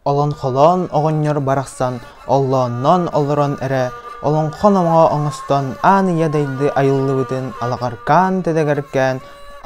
Олоҥхолоон оҕонньор барахсан оллоонноон олорон эрэ олоҥхо номоҕо оҥостон аан ийэ дайды айыллыбытын алаҕаркаан тэдэгэркээн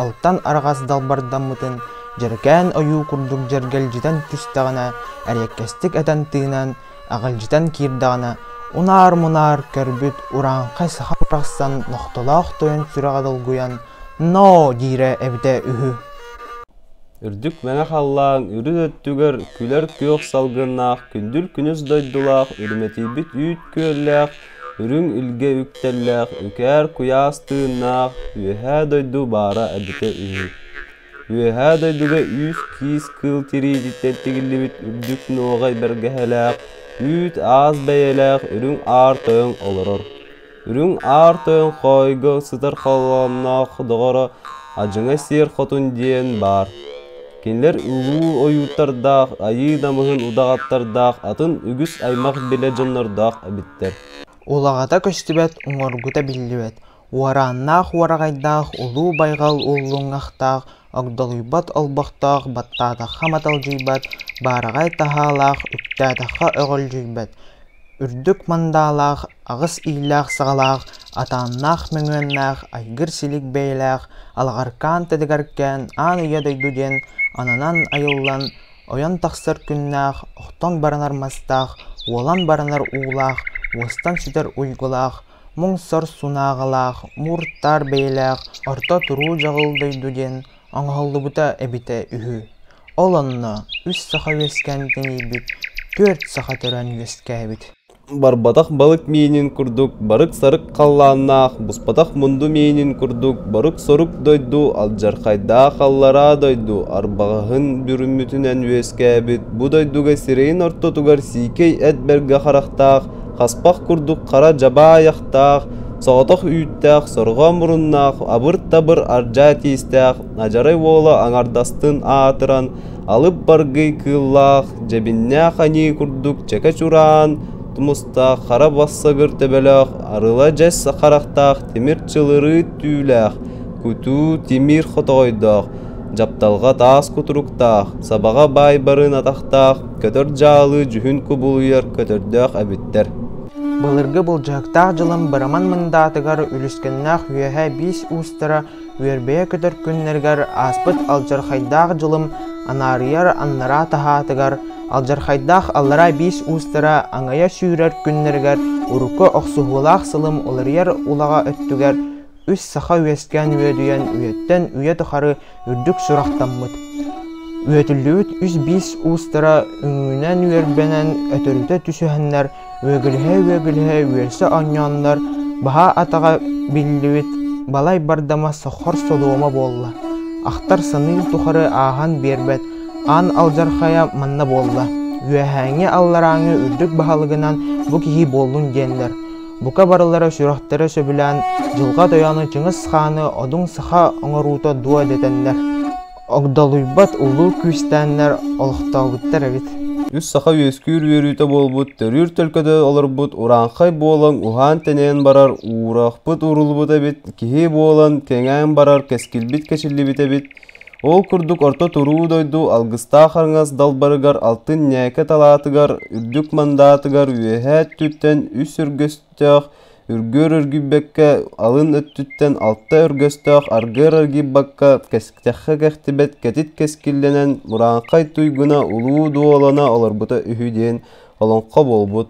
алтан араҕас далбардаммытын дьэргээн ойуу курдук дьэргэлдьитэн түстэҕинэ эриэккэстик этэн тыынан аҕылдьытан киирдэҕинэ унаар-мунаар көрбүт урааҥхай саха барахсан нохтолоох тойон сүрэҕэ долгуйан ноо диирэ эбитэ үһү үрдүк мэҥэ халлаан үрүт өттүгэр күлэр күөх салгыннаах күндүл күнүс дойдулаах үрмэтийбит үүт күөллээх үрүҥ илгэ үктэллээх үкээр куйаас тыыннаах үөһээ дойду баара эбитэ үһү Үөһээ дойдуга үс-киис кыыл тириититтэн тигиллибит үрдүк нуоҕай бэргэһэлээх, үүт-аас бэйэлээх үрүҥ аар тойон олорор. Үрүҥ аар тойон хоойго сытар холоомноох доҕоро Адьыҥа Сиэр Хотун диэн баар. Кинилэр улуу ойуурдардаах, айыы намыһын удаҕаттардаах, атын үгүс аймах-билэ дьоннордоох эбиттэр. Улаҕата көстүбэт, уҥуоргута биллибэт, Уорааннаах уораҕайдаах улуу байҕал уллуҥахтаах, огдолуйбат олбохтоох, баттаатахха маталдьыйбат, баараҕай таһаалаах, үктээтэххэ өҕөлдьүйбэт, үрдүк мандаалаах, аҕыс иилээх-саҕалаах, атааннаах мөҥүөннээх, айгыр-силик бэйэлээх, алаҕаркаан тэтигаркээн аан үйэ дойду диэн ананан айыллан, ойон тахсар күннээх, охтон баранар мастаах, уолан баранар уулаах, уостан сүтэр уйгулаах, муҥсар сунааҕалаах, мууртаар бэйэлээх орто туруу дьаҕыл дойду диэн оҥоһуллубута эбитэ үһү. Ол онно үс саха үөскээн тэнийбит түөрт саха төрөөн үөскээбит. Барбатах балык миинин курдук барык-сарык халлааннаах, буспатах мунду миинин курдук борук-сорук дойду алдьархайдаах аллараа дойду арбаҕаһын бүрүммүтүнэн үөскээбит бу дойдуга сирэйин ортотугар сиикэй эт бэргэ харахтаах Хаспах курдук хара дьабаайахтаах, соҕотох үүттээх, сорҕо муруннаах, абыр-табыр ардьаа тиистээх адьарай уола аҥардастын аатыран алып-баргый кыыллаах, дьэбиннээх аньыы курдук чэкэ чураан тумустаах хара бассагыр төбөлөөх, арыла-дьэс харахтаах тимир чылырыыт түүлээх, кутуу тимир хотоҕойдоох, дьапталҕа таас кутуруктаах, сабаҕа баайбарын атахтаах Көтөр дьаалы дьүһүн кубулуйар көтөрдөөх эбиттэр Былыргы былдьаһыктаах дьылын Быраман мындаатыгар үлүскэннээх үөһэ биис уустара үөрбэйэ көтөр күннэригэр ааспыт алдьархайдаах дьылым анаарыйар аннараа таһаатыгар, алдьархайдаах аллараа биис уустара аҥайа сүүрэр күннэригэр урукку охсуһуулаах сылым уларыйар улаҕа өттүгэр үс саха үөскээн үөдүйэн үйэттэн үйэ тухары үрдүк сурахтаммыт, үөтүллүбүт үс-биис уустара үҥүүнэн үөрбэнэн өтөрүтэ түсүһэннэр, үөгүлэһэ-үөгүлэһэ үөрсэ онньооннор, баһаа атаҕа биллибит балай бардама соххор солуома буолла, ахтар-саныыр тухары ааһан биэрбэт аан алдьархайа манна буолла, үөһээҥҥи алларааҥы үрдүк баһылыгынан бу киһи буоллун диэннэр, бука барылара сүрэхтэрэ сөбүлээн Дьылҕа Тойону Чыҥыс Хааны одуҥ саха оҥоруута дуо дэтэннэр, огдолуйбат улуу күүстээннэр олохтообуттар эбит. Үс саха үөскүүр үөрүүтэ буолбут төрүүр төлкөтө олорбут урааҥхай буолан уһаан-тэнээн барар уурахпыт уруллубут эбит, киһи буолан кэҥээн барар кэскилбит кэчиллибит эбит, Ол курдук орто туруу дойду алгыстаах аҥас далбарыгар алтын ньээкэ талаатыгар үрдүк мандаатыгар үөһээ өттүттэн үс өргөстөөх үргүөр өргүйбэккэ алын өттүттэн алта өргөстөөх аргыар аргыйбакка кэстэххэ кэхтибэт кэтит кэскиллэнэн мурааҥхай туйгуна улуу дуолана олорбута үһү диэн олоҥхо буолбут